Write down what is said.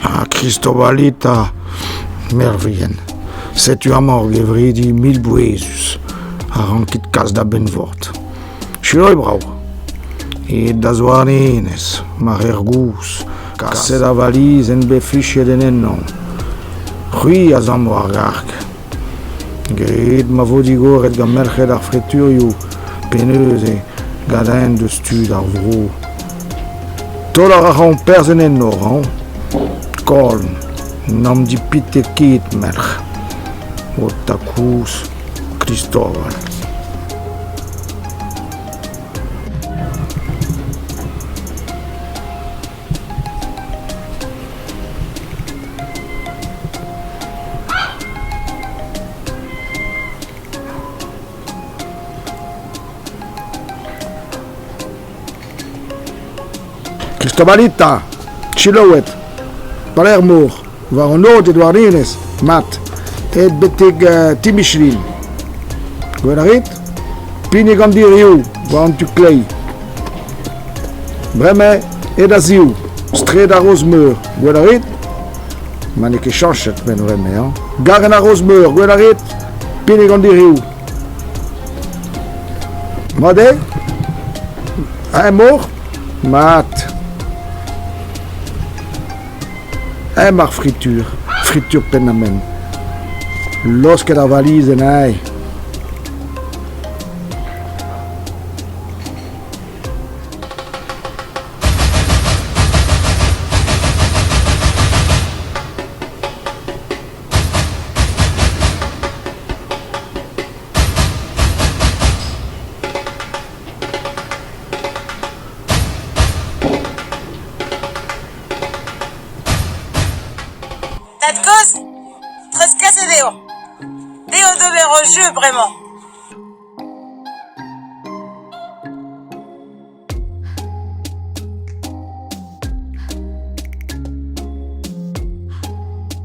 Ar Kristobalita mervien, setu amañ ur gevredi mil-bouezus a rankit kas da Benvord. Sure brav. It da Zouarnenez, mar er gouz, kaset a valiz en bet flichet en ennon. C'hwi a zamm war garg, Graet ma vo digoret gant merc'hed ar freturioù pe neuze gant-eñ deus tud ar vro. Taol a raomp perzh en enor hañ ! Kolm, n'am dipitet ket, merc'h. Ho takouz, Kristoval. Kristobalita, Chiloed, Palermor. war an ord e douarerezh, mat, aet betek Timișorin. Gwell a rit? Pinnig an dirioù war an tu kleiz. Bremañ eo da ziv, straed ar Roz-Meur, gwell a rit? Ma n'eo ket chanchet, men vremañ, garenn ar Roz-Meur, gwell a rit? Pinnig an dirioù. Mat eo? Eñ mor? Mat. Emañ ar fritur, fritur penn-ha-menn. Laosket ar valiz en ae. Tad-kozh, treuzkaset eo. Dezho d'ober o jeu bremañ.